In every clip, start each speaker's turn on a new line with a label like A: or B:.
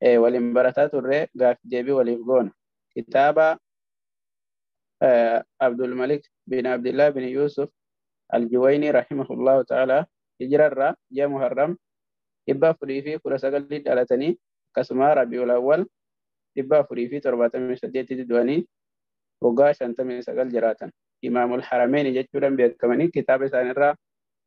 A: eh, waliin barataa turre gaaffi deebii waliif goona. Kitaaba eh, Abdul Malik bin Abdullah bin Yusuf Al-Juwayni rahimahullahu ta'ala hijirarraa ji'a Muharram dhibba afurii fi kudha sagalii dhalatanii akkasuma Rabiul Awwal dhibba afurii fi torbaatamii saddeetitti du'anii waggaa shantamii sagal jiraatan. Imaamul Harameeni jechuudhaan beekamanii kitaaba isaanirraa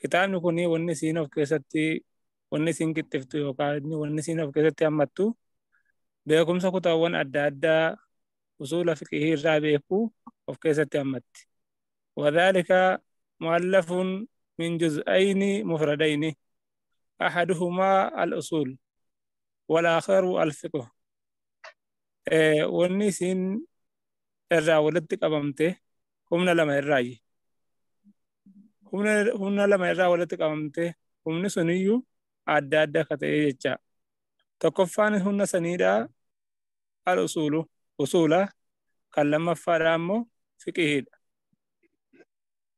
B: Kitaabni kun wanni isiin of keessatti wanni isiin qixxiftu yookaan wanni isiin of keessatti hammattu beekumsa kutaawwan adda addaa usuula fiqihii irraa beeku of keessatti hammatti. Wadaalika mu'allafuun min juz'ayni mufradayni ahaduhumaa al-usuul wal aakharu al-fiqhu. Wanni isiin irraa walitti qabamte humna lama irraayyi. Humna lama irraa walitti qabamtee humni suniyyuu adda adda akka ta'ee jecha. Tokkoffaan humna saniidhaa al usuulu usuula kan lammaffaadhaa ammoo fiqihiidha.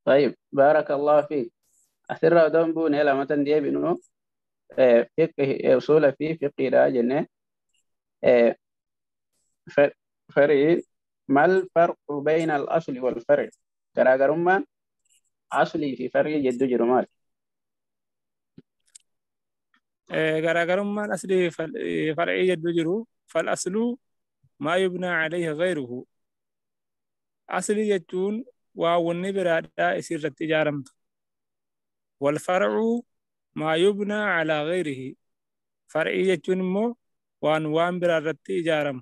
A: Tayyib baarakallahu fiik. Asirraa odoo hin buune lamatan deebinu usuula fi fiqiidhaa jennee farii mal farqu bayna al asli wal far'i garaagarummaan aslii fi far'ii jidduu jiru maali
B: Eh, garaagarummaan aslii fi fal- eh, far'ii jidduu jiru fal asluu maa yubnaa alayhi ghayruhu aslii jechuun waa wanni biraadhaa isii irratti ijaaramtu wal far'u maa yubnaa alaa ghayrihi far'ii jechuun immoo waan waan biraa irratti ijaaramu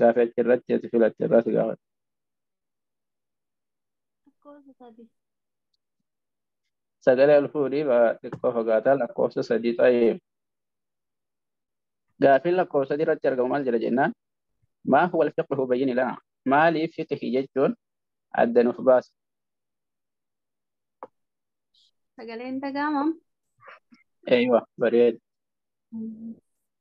A: Gaafi achi irratti ati filatte irraa si gaafata. Lakkoofsa sadii. Sagalee ol fuudhii ba'a xiqqoo fagaataa lakkoofsa sadii ta'ee. Gaafiin lakkoofsa sadii irratti argamu maal jedha jennaan? Maa huwa al-fiqhu bayyini lana? Maaliif fiqhi jechuun adda nuuf baasa? Sagaleen
C: dhaga'amam. Eeywa
A: bareeda.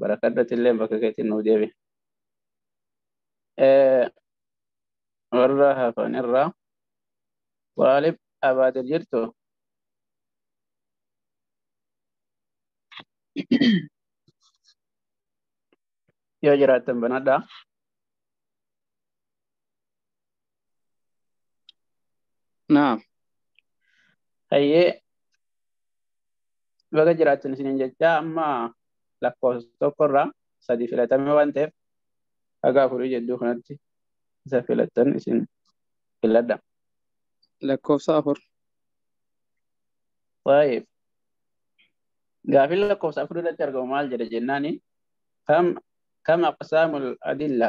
A: barakadhati illee bakka keetiin nuuf deebi. Eh, Warra hafan irraa waalib abaadir jirtu yoo jiraattan banadhaa.
D: Naam.
A: Hayyee baga jiraattan isiniin jechaa amma lakkoofsa tokkorraa sadii filatamee waan ta'eef haga afurii jidduu kanatti isa filattan isin filadha.
D: Lakkoofsa afur.
A: Waa'ee gaafii lakkoofsa afur irratti argamu maal jedha jennaani kam kam aqsaamul adilla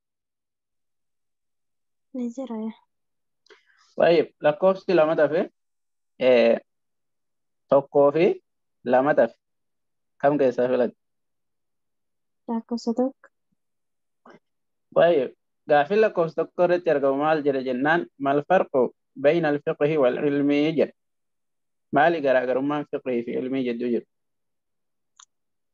C: Ni jira.
A: Baay'ee lakkoofsi lama tafe eh, tokkoo fi lama tafe kam keessaa filatte?
C: Lakkoofsa tokko.
A: Baay'ee gaaffiin lakkoofsa tokko irratti argamu maal jedha jennaan mal farqu bayna alfiqhi wal ilmii jedha. Maali garaagarummaan fiqhii fi ilmii jidduu jiru?